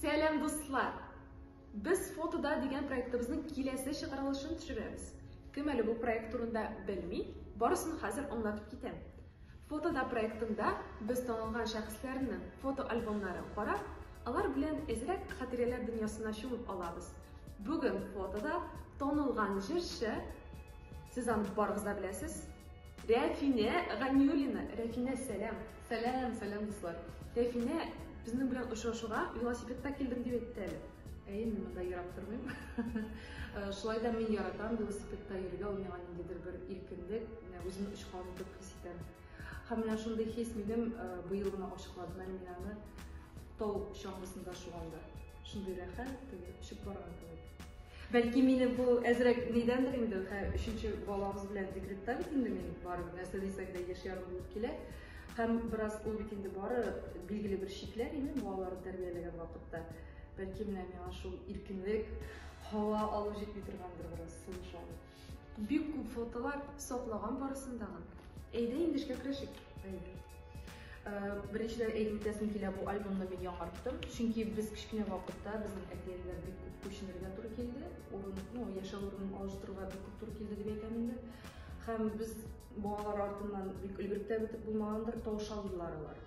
Сәлам, дуслар! Без фотода дигән проектыбызның киләсе чыгарылышын төшерәбез. Кем әле бу проект турында белми, барысын хәзер аңлатып китәм. Фотода проектында без танылган шәхесләрнең фотоальбомнары карап, алар белән әзрәк хатирәләр дөньясына чумып алабыз. Бүген фотода танылган җырчы, сез аны барыгыз да беләсез, Рәфинә Ганиуллина, Рәфинә, сәлам! Сәлам, сәлам дуслар! Рәфинә безнең белән очрашуга велосипедта килдем дип әйтте әле. Әйе, мин монда ерак тормыйм. Шулай да мин яратам велосипедта йөрергә, ул миңа ниндидер бер иркенлек, менә үземне очкан итеп хис итәм. Һәм менә шундый хис минем быел гына ачыкладым әле мин аны тау чаңгысында шуганда. Шундый рәхәт, теге очып барган кебек. Бәлки мине бу әзрәк нидәндер инде, хә, өченче балабыз белән декретта бит инде мин барып, нәрсә дисәң дә яшь ярым булып килә. Һәм бераз ул бит инде бары билгеле бер чикләр иде балаларны тәрбияләгән вакытта. Бәлки менә миңа шул иркенлек, һава алу җитми торгандыр бераз, сулыш алу. Бик күп фотолар саклаган барысын тагын. Әйдә инде эшкә керешик. Әйдә. Беренчедән әйтеп үтәсем килә, бу альбомны мин яңарттым. Чөнки без кечкенә вакытта безнең әтиәниләр бик күп күченергә туры килде. Урын, ну, яшәү урынын алыштыруга бик күп туры килде дип әйтәм инде. Һәм без балалар артыннан бик өлгереп тә бетеп булмагандыр, тавыша алдылар алар.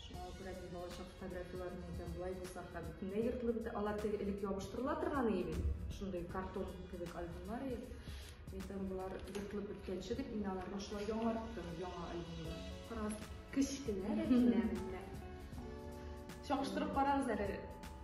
Шуңа күрә мин балачак фотографияләрен әйтәм, болай булса хәл. Менә йортлы бит, алар теге элек ябыштырыла торган иде бит. Шундый картон кебек альбомнар иде. Әйтәм, болар йортлы беткәнче дип, мин аларга шулай яңарттым, яңа альбомда. Карагыз, кечкенә генә. Чагыштырып карагыз әле.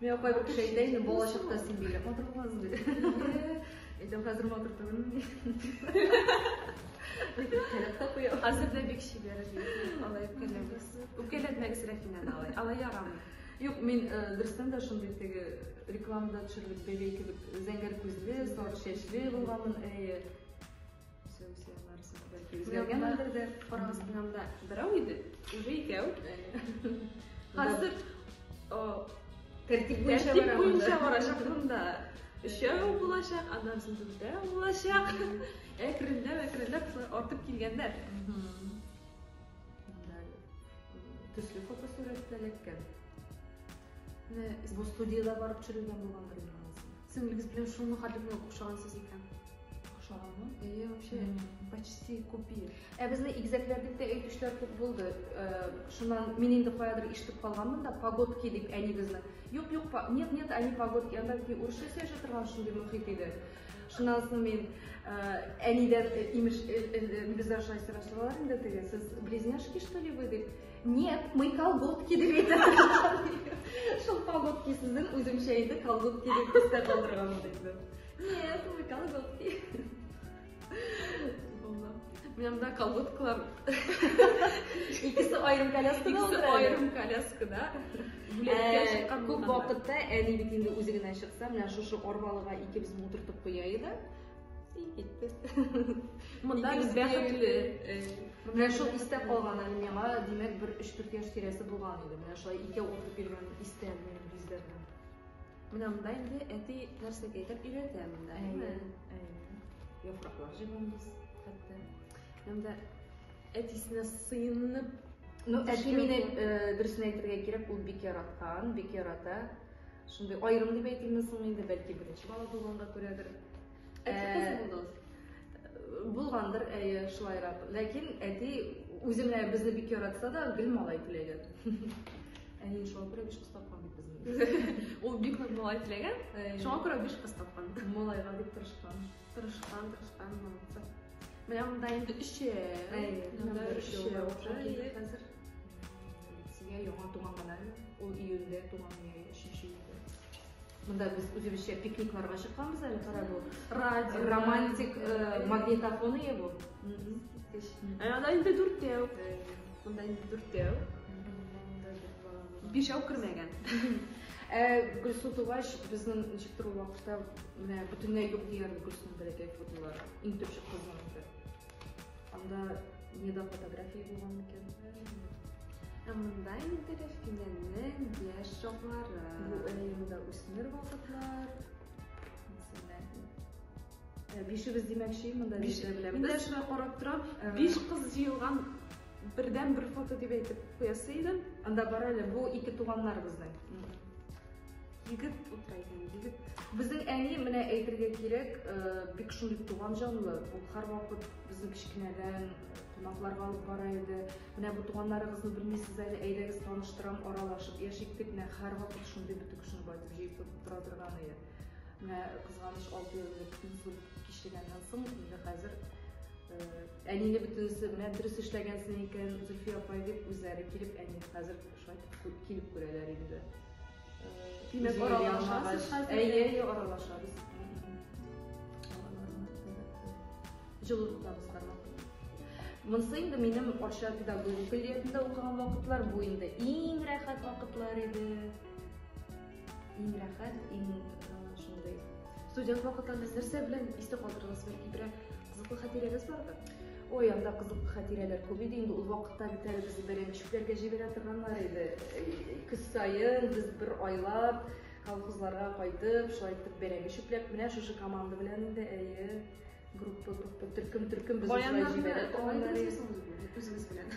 Мин апай бер кеше әйтә инде, бала чакта син бигрәк матур булгансың диде. Әйтәм, хәзер матур түгелмен ди. Кәләп тә куя. Хәзер дә бик чибәр ди. Алай үпкәләмәгез. Үпкәләтмәгез Рәфинәне алай. Алай ярамый. Юк, мин э, дөрестән дә шундый теге рекламада төшерелеп бәбәй кебек зәңгәр күзле, сары чәчле булганмын. Әйе. берәү иде уже икәү хәзер тәртип буенча барачак монда өчәү булачак аннан соң дүртәү булачак әкренләп әкренләп артып килгәннәр төсле фотосурәт эләккән менә бу студияда барып төшерелгән булгандыр Сеңлегез белән шул мәхәлләгә охшагансыз икән. Охшаганмы? Әйе, вообще, почти купи. Ә безнең игезәкләрдә дә әйтүчләр күп булды. Э, шуннан мин инде каядыр ишетеп калганмын да, погодки дип әнигезне. Юк, юк, нет, нет, они погодки. Анда бит урысча сөйләшә торган шундый мөхит иде. Шуннан соң мин э, әнидән э, имеш, бездә шулай сораштылар инде теге, сез близняшки что ли вы дип. Нет, мы колготки дип әйтәбез. Шул колготки сүзен үземчә инде колготки дип истә калдырган булды. Нет, мы колготки. Мында колготкалар икесе аерым коляскада утыра. Аерым коляскада. Ә, күп вакытта әни бит инде үзе генә чыкса, менә шушы арбалыга икебез утыртып куя иде. Син киттек. Монда без бәхетле. Менә шул истә калган әле миңа, димәк, бер 3-4 яшь тирәсе булган иде. Менә шулай икәү утырып йөргән истә минем бизләрдә. Менә монда инде әти нәрсәгә әйтеп өйрәтә монда, әйе. Яфраклар җыйганбыз хәтта. Монда әтисенә сыенып Ну, әти мине дөресен әйтергә кирәк, ул бик яраткан, бик ярата. Шундый аерым дип әйтимме соң инде, бәлки беренче бала булганга күрәдер. Ә, ә Булгандыр, әйе, шулайрак. Ләкин әти үзе менә безне бик яратса да, гел малай теләгән. Әни шуңа күрә биш кыз тапкан бит безне. Ул бик нык малай теләгән. Шуңа күрә биш кыз тапкан. Малайга бик тырышкан. Тырышкан, тырышкан, молодцы. Менә монда инде өчәү. Әйе, өчәү. Хәзер Сиңа яңа туган гынамы? Ул июньдә туган иде, 3 июньдә. Монда без үзебезчә пикникларга чыкканбыз әле, кара бу. Радио, романтик э, магнитофон ие бу. Ә анда инде дүртәү. Монда инде дүртәү. Бишәү кермәгән. Ә Гөлсу тугач, безнең ничек тору вакытта менә бөтенләй юк дигән Гөлсу бәләкәй фотолар. Иң төп чыккызның инде. Анда не до фотографии булган микән? Ә монда инде Рәфинәнең яшь чаклары. Бу әйемдә үсмер вакытлар. Ә, бишебез димәкче, монда биш белән. Мин дә шулай карап торам. Ә. Биш кыз җыелган бердән бер фото дип әйтеп куясы идем. Анда бар әле, бу ике туганнарыбызның. Егет утыра икән, егет. Безнең әни, менә әйтергә кирәк, э, бик шундый туган җанлы. Ул һәрвакыт безне кечкенәдән кунакларга алып бара иде. Менә бу туганнарыгызны белмисез әле, әйдәгез таныштырам, аралашып яшик дип, менә һәрвакыт шундый бөтен кешене байтып җыеп тора торган иде. Менә кызганыч алты еллык инсульт кичергәннән соң, инде хәзер э, әнине бөтенесе менә дөрес эшләгәнсең икән, Зөлфия апай дип үзләре килеп әни хәзер Шайтып килеп күрәләр инде. Димәк, аралашасыз хәзер? Әйе, әйе, аралашабыз. Җылы тотабыз Монысы инде минем Арча педагогия көллиятендә укыган вакытлар, бу инде иң рәхәт вакытлар иде. Иң рәхәт, иң шундый. Студент вакыттан нәрсә белән истә калдырыгыз? Бәлки берәр кызыклы хатирәгез бардыр? Ой, анда кызыклы хатирәләр күп иде инде. Ул вакытта бит әле без бәрәнчекләргә җибәрә торганнар иде. Көз саен без бер айлап колхозларга кайтып, шулай итеп бәрәңге чүпләп, менә шушы команда белән инде, әйе, группа, группа, төркем, төркем без шулай җибәрә торганнар иде. Үзегез белән.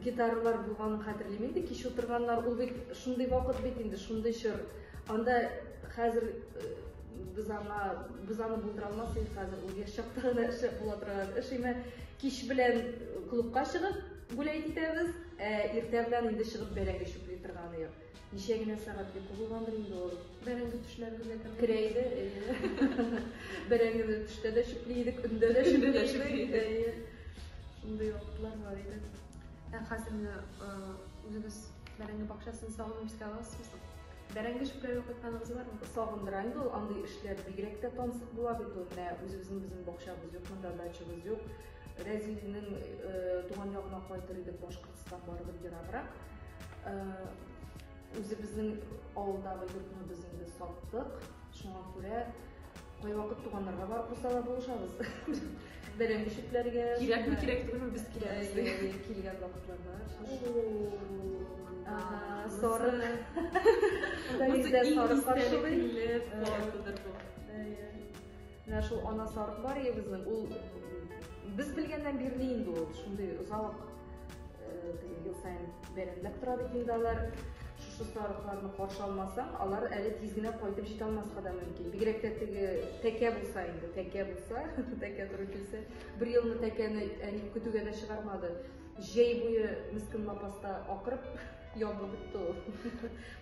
Гитаралар булганын хәтерлим инде, кич утырганнар, ул бит шундый вакыт бит инде, шундый чор. Анда хәзер э, без аңа без аны булдыра алмас идек хәзер, ул яшь чакта гына эшләп була торган эш име. Кич белән клубка чыгып гулять итәбез, ә иртә белән инде чыгып бәрәңге чүпли торган идек. Ничә генә сәгать йоку булгандыр инде ул. Бәрәңге төшләрендә керә иде. Бәрәңгене төштә дә чүпли идек, көндә дә чүпли идек. Шундый вакытлар бар иде. Ә хәзер менә үзегез бәрәңге бакчасын сагынып искә аласызмы? Бәрәңге чүпләргә кайтканыгыз бармы? Сагындыра инде ул андый эшләр. Бигрәк тә тансык була бит ул. Менә үзебезнең безнең бакчабыз юк, монда дачабыз юк. Рәзилнең туган ягына кайтыр идек, башка Кыска барыбер ераграк. Э, Үзебезнең авылдагы йортны без инде саттык. Шуңа күрә кайвакыт туганнарга барып булса да булышабыз. Бәрәңге чүпләргә. Кирәкме, кирәк түгелме без киләбез. Э, килгән вакытларда. Соры. Анда соры каршылый. Э, Менә шул анасы Аркбариябезнең, ул без белгәннән бирле инде ул шундый озак ел саен бәйрәмләп тора бит инде алар. Шушы сарыкларны каршы алмасаң, алар әле тиз генә кайтып җитә алмаска да мөмкин. Бигрәк тә теге тәкә булса инде, тәкә булса, тәкә туры килсә, бер елны тәкәне әни көтүгә дә чыгармады. Җәй буе мискин лапаста акырып ябылып бетте ул.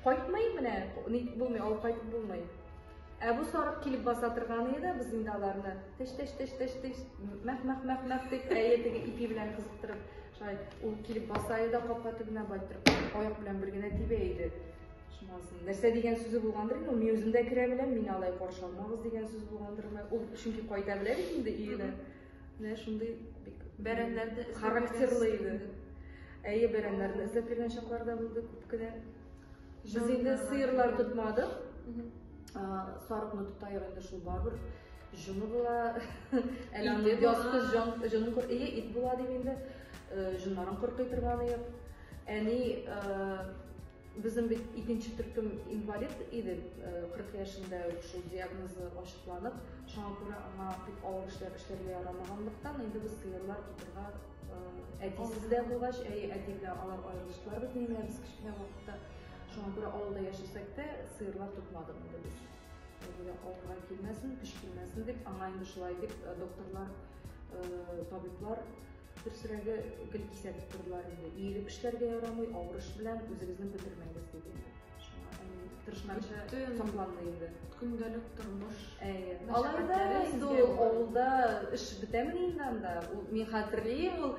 Кайтмый менә, ник булмый, алып кайтып булмый. Ә бу сарык килеп баса торган иде, без инде аларны теш теш теш теш теш мәх мәх мәх мәх дип әйе теге ипи белән кызыктырып, шулай ул килеп баса иде, капка төбенә байтырып, аяк белән бер генә тибә иде. Шуннан нәрсә дигән сүзе булгандыр инде, мин үзем дә керә беләм, мин алай каршы алмагыз дигән сүз булгандырмы? Ул чөнки кайта белә бит инде өенә. Менә шундый бик бәрәннәрне характерлы иде. Әйе, бәрәннәрне эзләп йөргән чаклар да булды күп кенә. Без инде сыерлар тотмадык. Сарыкны тотайык инде шул барыбер. Җоны була. Әле аны ясты җон, җонын кор, или ит була дип инде. Җоннарын кыркый торганы юк. Әни безнең бит икенче төркем инвалид иде, 40 яшендә шул диагнозы ачыкланып, шуңа күрә аңа бик авыр эшләр эшләргә ярамаганлыктан, инде без сыерлар тотырга Әтисе дә булгач, әй, әти белән алар аерылыштылар бит мине без кечкенә вакытта. Шуңа күрә авылда яшәсәк тә, сыерлар тотмадык инде без. Әйе, авылга килмәсен, көч килмәсен дип, аңа инде шулай дип э, докторлар, э, табиблар берсерәге гел кисәтеп тордылар инде. Иелеп эшләргә ярамый, авыр эш белән үзегезне бетермәгез дип инде. тырышмача сокланды инде көндәлек тормыш әйе алай да инде ул авылда эш бетәмени инде анда мин хәтерлим ул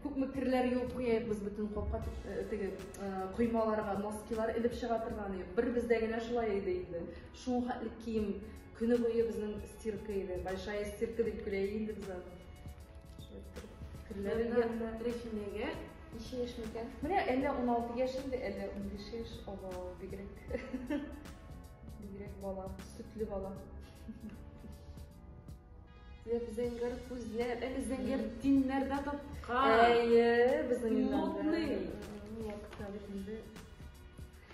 күпме керләр юып куябыз бөтен капка э, теге э, коймаларга носкилар элеп чыга торган иде бер бездә генә шулай иде инде шул хәтле кием көне буе безнең стирка иде большая стирка дип көлә инде без аны керләр рәхимәгә Ничә яшь микән? Менә әллә 16 яшь инде, әллә 15 яшь. Ого, бигрәк. Бигрәк бала, сөтле бала. Зәп зәңгәр күзләр, әле зәңгәр тиннәрдә тапкан. Әйе, безнең Модный. Вакытта бит инде.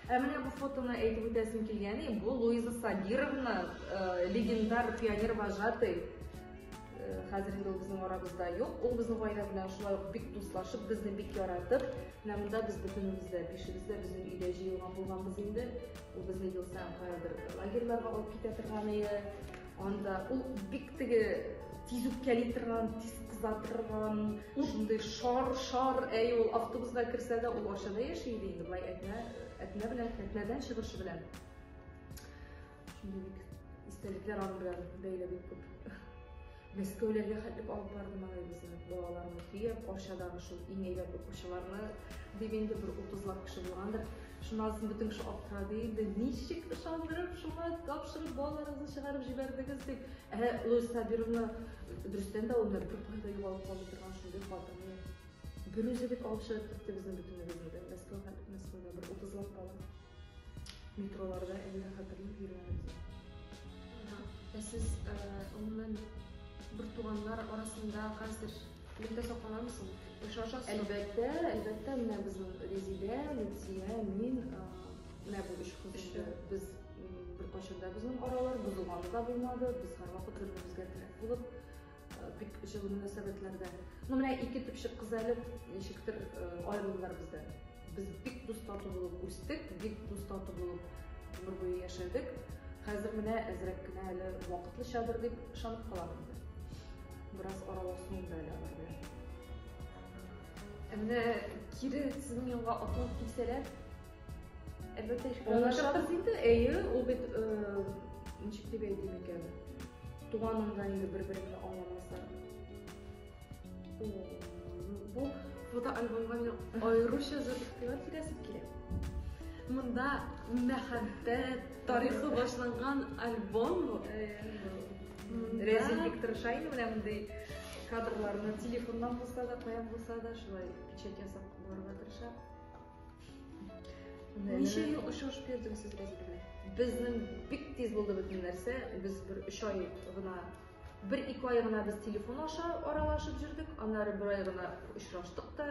Ә менә бу фотоны әйтеп үтәсем килгәни, бу Луиза Сабировна, э, легендар пионер вожатый. Э, хәзер инде ул безнең арабызда юк. Ул безнең гаилә белән шулай ук бик дуслашып, безне бик яратып, менә монда без бөтенебез дә, бишебез дә безнең өйдә җыелган булганбыз инде. Ул безне ел саен каядыр лагерьларга алып китә торган иде. Анда ул бик теге тиз үпкәли торган, тиз кыза торган, шундый шар-шар, әй ул автобусга керсә дә ул ашада яши иде инде, былай әтнә, әтнә белән, әтнәдән чыгышы белән. Шундый бик истәлекләр аның белән бәйле бик күп. Мәскәүләргә хәтлек алып барды малайыбызны, балаларны төяп, Арчадагы шул иң әйбәт укучыларны, дип инде бер утызлап кеше булгандыр. Шуннан соң бөтен кеше аптырады инде, ничек ышандырып шуңа тапшырып балаларыгызны чыгарып җибәрдегез дип. Ә Луис Сабировна дөрестән дә аны бер кайда югалып калды торган шундый хатынны бер үзе бит алып чыгып китте безнең бөтенебезне дә. Мәскәүгә, Мәскәүдә бер утызлап бала метроларда әле дә хәтерлим йөргәнебезне. Ә сез, гомумән, бертуганнар арасында хәзер Лифтта сакланамсың? Яхшы ашасың? Әлбәттә, әлбәттә, менә безнең Резидә, Лүтия, мин, менә бу өч кыз инде. Без беркайчан да безнең аралар бозылганы да булмады. Без һәрвакыт бер-беребезгә терәк булып, бик җылы мөнәсәбәтләрдә. Ну, менә ике төпчек кыз әле ничектер аерылдылар бездән. Без бик дус-тату булып үстек, бик дус-тату булып гомер буе яшәдек. Хәзер менә әзрәк кенә әле вакытлычадыр дип ышанып калам инде. Бераз аралашу инде әле алар белән. Ә менә кире сезнең янга атлап килсәләр, әлбәттә, шикләнәчәкбез инде. Әйе, ул бит ничек дип әйтим икән, туганыңда инде бер-береңне аңламаса. Бу фотоальбомга мин аеруча зур игътибар бирәсем килә. Монда мәхәббәт тарихы башланган альбом бу. Рәзин бик тырышайны менә мондый кадрларны телефоннан булса да, каян булса да шулай печать ясап барырга тырыша. Ничә ел очрашып йөрдегез сез Рәзин белән? Безнең бик тиз булды бөтен нәрсә. Без бер 3 ай гына Бер-ике ай гына без телефон аша аралашып җөрдек, аннары бер ай гына очраштык та,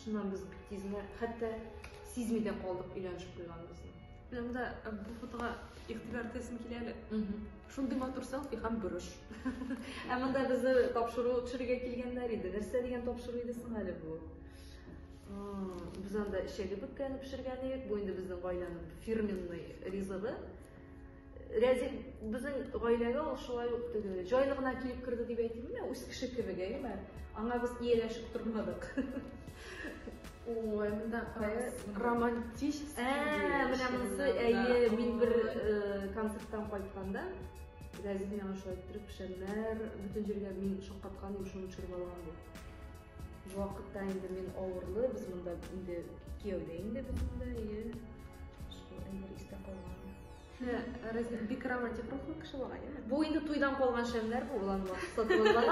шуннан без бик тиз генә, хәтта сизми дә калдык өйләнешеп куйганыбызны. Менә монда э, бу фотога игътибар итәсем килә әле. Шундый матур селфи һәм борыш. Ә монда безне тапшыру төшерергә килгәннәр иде. Нәрсә дигән тапшыру иде соң әле бу? Без анда эчәге бөккәне пешергән идек. Бу инде безнең гаиләнең фирменный ризыгы. Рәзик безнең гаиләгә ул шулай ук теге җайлы гына килеп керде дип әйтимме, үз кеше кебек, әйеме? Аңа без ияләшеп тормадык. Ой, монда романтич. Ә, менә монысы, әйе, мин бер концерттан кайтканда Рәзик миңа шулай иттереп, пешәннәр, бөтен җиргә мин шаккаткан, юшын төшереп алган бу. Вакытта инде мин авырлы, без монда инде кияүдә инде без монда, әйе. Шул әйбер истә калган. Бик романтик рухлы кеше була, әйеме? Бу инде туйдан калган шәмнәр бу улан сатылган.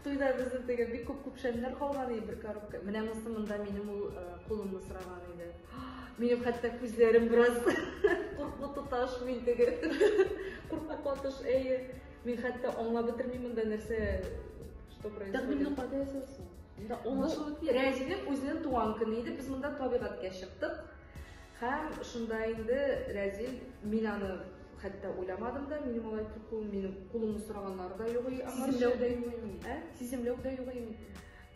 Туйда безнең теге бик күп күп шәмнәр калган иде бер коробка. Менә монысы монда минем ул кулымны сораган иде. Минем хәтта күзләрем бераз куркып тоташ мин теге. Куркып катыш, әйе. Мин хәтта аңлап бетермим монда нәрсә что происходит. Тәкъдимне кайда ясасын? Рәҗибнең үзенең туган көне иде. Без монда табигатькә чыктык. Һәм шунда инде Рәзил, мин аны хәтта уйламадым да, минем алай куркуым, минем кулымны сораганнары да юк и аңа. Сиземләү дә юк инде. Ә? Сиземләү дә юк инде.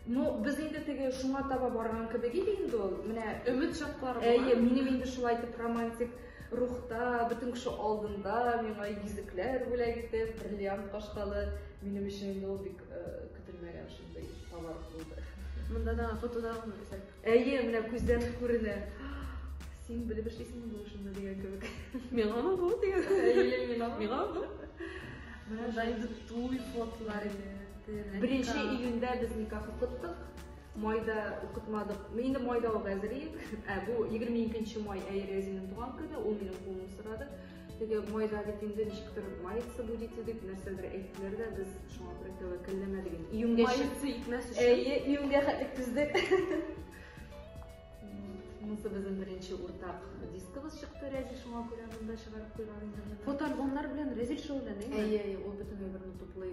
Ну, без инде теге шуңа таба барган кебек иде инде ул. Менә өмет чаклары була. Әйе, минем инде шулай итеп романтик рухта, бөтен кеше алдында миңа йөзекләр бүләк итеп, бриллиант кашкалы. Минем өчен инде ул бик көтелмәгән шундый товар булды. Монда да фотода күрсәт. Әйе, менә күздән үк күренә. Син белеп эшлисеңме бу эшеңне дигән кебек. Миңамы бу дигән? Әйе, миңамы? Миңамы бу? Менә шулай инде туй фотолары инде. Беренче июньдә без никах укыттык. Майда укытмадык. Мин инде майда ук әзер идем. Ә бу 22 май Әйрәзинең туган көне, ул минем кулымны сорады. Теге майда бит инде ничектер мается будете дип нәрсәдер әйттеләр дә, без шуңа күрә тәвәккәлләмәдек инде. Июньгә мается итмәс өчен. Әйе, июньгә хәтле түздек. Монысы безнең беренче уртак дискыбыз чыкты, Рәзил шуңа күрә монда чыгарып куйган инде. Фотоальбомнар белән Рәзил шөгыльләнә. Әйе, әйе, ул бөтенләй берне туплый.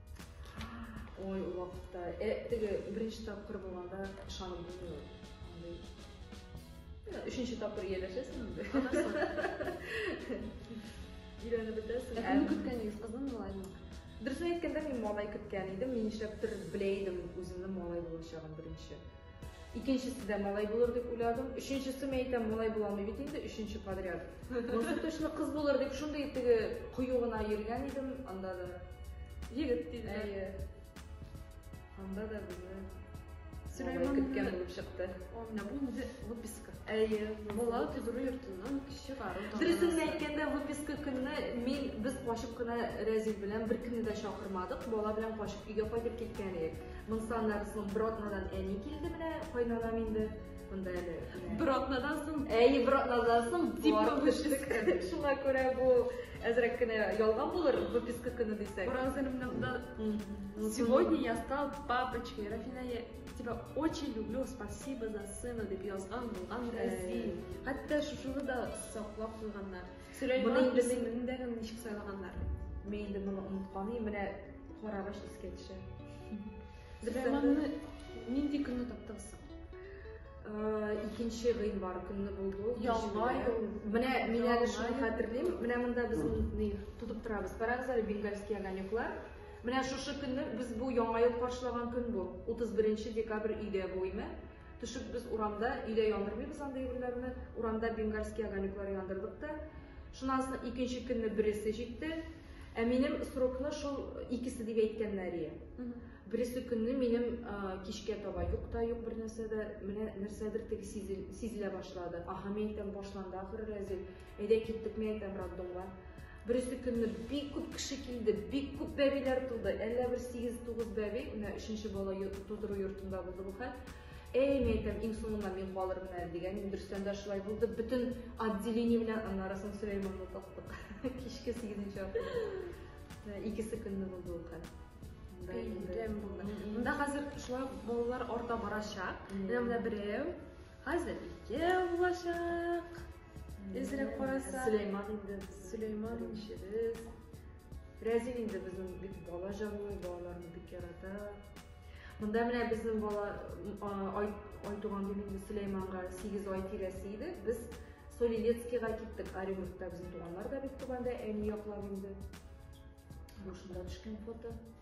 Ой, ул вакытта. Э, теге беренче тапкыр булганда ышанып булмый. Өченче тапкыр ияләшәсең инде. Өйрәнеп бетәсең. Ә кемне көткәнегез, кызны малайны? Дөресен әйткәндә, мин малай көткән идем. Мин нишләптер белә идем үземнең малай булачагын беренче. Икенчесе дә малай булыр дип уйладым. Өченчесе, мин әйтәм, малай була алмый бит инде, өченче подряд. Монысы точно кыз булыр дип шундый теге кыю гына йөргән идем, анда да. Егет диде. Әйе. Анда да безне Сөләйман көткән булып чыкты. Анда бу инде выписка. Әйе, бала төзерү йортыннан чыгару. Дөресен әйткәндә, выписка көнне мин без качып кына Рәзил белән беркемне дә чакырмадык, бала белән качып өйгә кайтып киткән идек. Мон саннар сон бротнадан әни килде менә кайнанам инде. Монда әле. Бротнадан сон. Әй, бротнадан сон дип төштек. Шуңа күрә бу әзрәк кенә ялган булыр выписка көне дисәк. Уразынымда сегодня я стал папочкой. Рафина, я тебя очень люблю. Спасибо за сына дип язган булган гази. Хәтта шушыны да саклап куйганнар. Моны инде мин дә ничек сайлаганнар. Мин инде моны онытканым, менә карагач искә төшә. Сөләйманны нинди көнне таптыгыз соң? Икенче гыйнвар көнне булды ул. Ялга юл. Менә мин әле шуны хәтерлим. Менә монда без моны тотып торабыз. Карагыз әле бенгальский огонеклар. Менә шушы көнне без бу яңа ел каршылаган көн бу. 31 декабрь өйдә бу име? Төшеп без урамда, өйдә яндырмыйбыз андый әйберләрне, урамда бенгальский огонеклар яндырдык та. Шуннан соң икенче көнне бересе җитте. Ә минем срокны шул икесе дип әйткәннәр ие. Бересе көнне минем кичкә таба юк та юк бер нәрсә дә, менә нәрсәдер теге сизелә башлады. Аһа, мин әйтәм, башланды ахыр рәзил. Әйдә киттек, мин әйтәм роддомга. Бересе көнне бик күп кеше килде, бик күп бәбиләр туды. Әллә бер 8-9 бәби, менә өченче бала тудыру йортында булды бу хәл. Әй, мин әйтәм, иң соңында мин калырмын әле дигән. Дөрестән дә шулай булды. Бөтен отделение белән аннары соң Сөләйманны таптык. Кичке 8-нче атна. Икесе көнне булды ул хәл. Бәйлем булды. Монда хәзер шулай балалар арта барачак. Менә берәү, Хәзер ике булачак. Эзрәк караса. Сөләйман инде. Сөләйман иншебез. Рәзин инде безнең бик бала җанлы, балаларны бик ярата. Монда менә безнең бала ай, ай туган дип инде Сөләйманга 8 ай тирәсе иде. Без Солилецкийга киттек. Оренбургта безнең туганнар да бик туганда әни яклап инде. Бу шунда төшкән фото.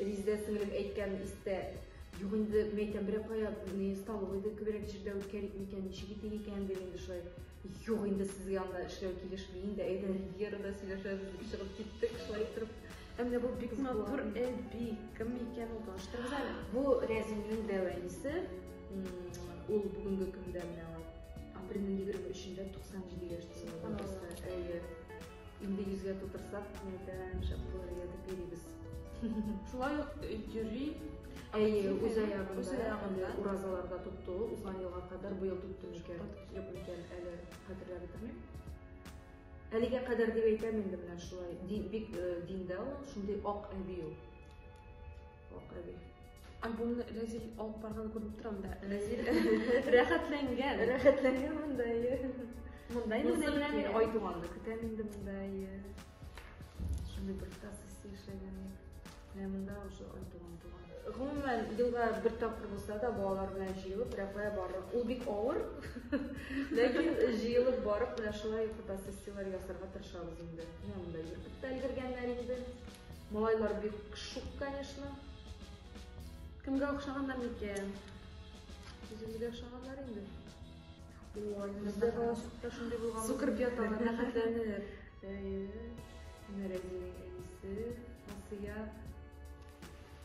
Резидә сеңлем әйткән истә юк инде, мин әйтәм, берәр кая не столовый иде, күбрәк җирдә үткәрик микән, ничек итик икән дип инде шулай. Юк инде сезгә анда эшләү килешми инде, әйдә Ривьерада сөйләшәбез дип чыгып киттек, шулай итеп. Ә менә бу бик матур әби, кем икән ул, таныштырыгыз әле. Бу Рәзимнең дәү әнисе, ул бүгенге көндә менә апрельнең егерме өчендә 97 яшь тулды. Әйе. Инде йөзгә тутырсак кинәдән шәп булыр иде дип йөрибез. Шулай ук йөри. Әйе, үз аягында. Үз аягында. Уразаларда тотты ул. Узган елга кадәр бу ел тотты микән, юк микән, әле хәтерләп бетермим. Әлегә кадәр дип әйтәм инде менә шулай. Бик диндә ул, шундый ак әби ул. Ак әби. Ә буны Рәзил алып барган күреп торам да. Рәзил рәхәтләнгән. Рәхәтләнгән монда ие. Монда инде менә мин ай туганны көтәм инде монда ие. Шундый бер тасысы яшәгән. Менә монда уже ай туган туган. Гомумән, елга бер тапкыр булса да балалар белән җыелып Рәфая барып. Ул бик авыр. Ләкин җыелып барып, менә шулай фотосессияләр ясарга тырышабыз инде. Менә монда йөртеп тә өлгергәннәр инде. Малайлар бик шук, конечно. Кемгә охшаганнар микән? Үзебезгә охшаганнар инде. Ой, бездә балачакта шундый булган. Сукыр пятала рәхәтләнер. Әйе. Нәрәгә әйсе, Асия.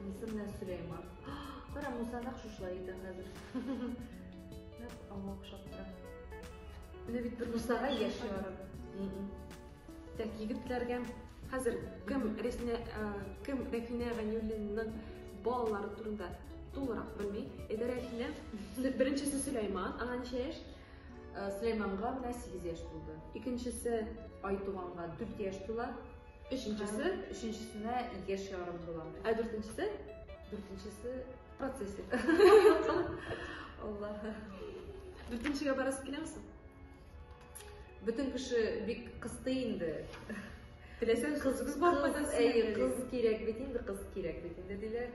Муса менә Сөләйман. Кара, Муса нәкъ шушылай итә хәзер. Нәкъ аңа охшап тора. Менә бит бер Мусага яшь ярып. Так, егетләргә хәзер кем Рәфинә кем Рәфинә Ганиуллинның балалары турында тулырак белми. Әйдә Рәфинә, беренчесе Сөләйман, аңа ничә яшь? Сөләйманга менә 8 яшь тулды. Икенчесе Айтуганга 4 яшь тула. Өченчесе, өченчесенә яшь ярым тула. Ә дүртенчесе? Дүртенчесе процессик. Аллаһ. Дүртенчегә барасыз киләмсең? Бөтен кеше бик кысты инде. Теләсәң кыз кыз бар кыз, әй, кыз кирәк бит инде, кыз кирәк бит инде диләр.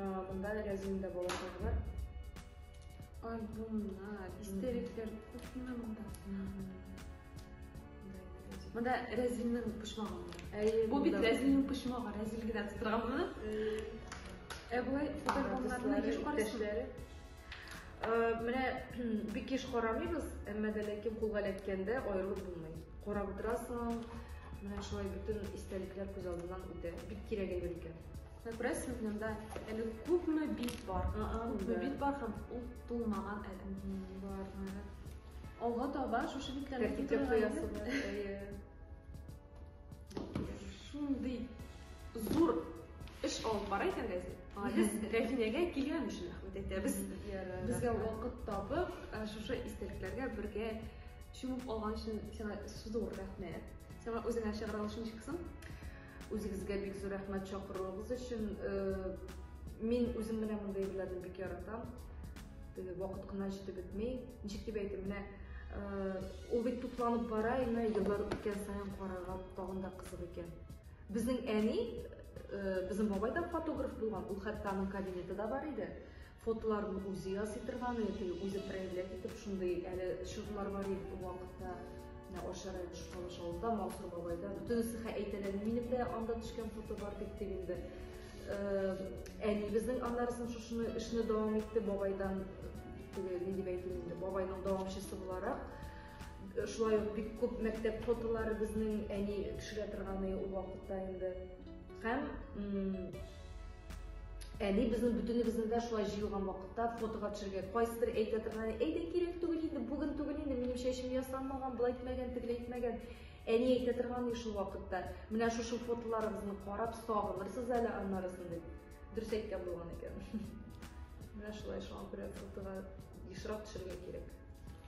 Монда рәзин дә балаклар бар. Альбомнар, истериклер күпме монда. Монда рәзиннең почмагы бар. Әйе. Бу бит рәзиннең почмагы, рәзил генә тутырган моны. Ә болай фотоальбомнарны еш карыйсың. Менә бик еш карамыйбыз, әмма дә ләкин кулга эләккәндә аерылып булмый. Карап утырасың, менә шулай бөтен истәлекләр күз алдыннан үтә. Бик кирәк әйбер икән. Сюрприз сезнеңдә әле күпме бит бар. Күпме бит бар һәм ул тулмаган әле. Бар. Алга таба шушы битләрне китереп куясыз. Шундый зур эш алып бара икән газет. Без Рәфинәгә килгән өчен рәхмәт әйтәбез. Безгә вакыт табып, шушы истәлекләргә бергә чумып алган өчен сиңа зур рәхмәт. Сиңа үзеңә чыгара алышын чыксын. Үзегезгә бик зур рәхмәт чакыруыгыз өчен. Мин үзем менә мондый әйберләрне бик яратам. Теге вакыт кына җитеп бетми. Ничек дип әйтим, менә ул бит тупланып бара, инде еллар үткән саен карарга тагын да кызык икән. Безнең әни, безнең бабай да фотограф булган, ул хәтта аның кабинеты да бар иде. Фотоларны үзе ясый торган яки үзе проявлять итеп шундый әле чорлар бар иде вакытта. Менә Ашар Айбыш Калыш авылда Мансур бабайда. Бөтенесе хә әйтәләр, минем дә анда төшкән фото бар дип дип инде. Әнибезнең аннарысын шушыны эшне дәвам итте бабайдан теге ни дип әйтим инде бабайның дәвамчысы буларак шулай ук бик күп мәктәп фотолары безнең әни төшерә торганы ул вакытта инде һәм Әни безнең бөтенебезне дә шулай җыелган вакытта фотога төшергә кайсыдыр әйтә торган, әйдә кирәк түгел инде, бүген түгел инде, минем чәчем ясанмаган, болай итмәгән, тегеләй итмәгән. Әни әйтә торган шул вакытта, менә шушы фотоларыбызны карап сагынырсыз әле аннарысын дип. Дөрес әйткән булган икән. Менә шулай шуңа күрә фотога ешрак төшергә кирәк.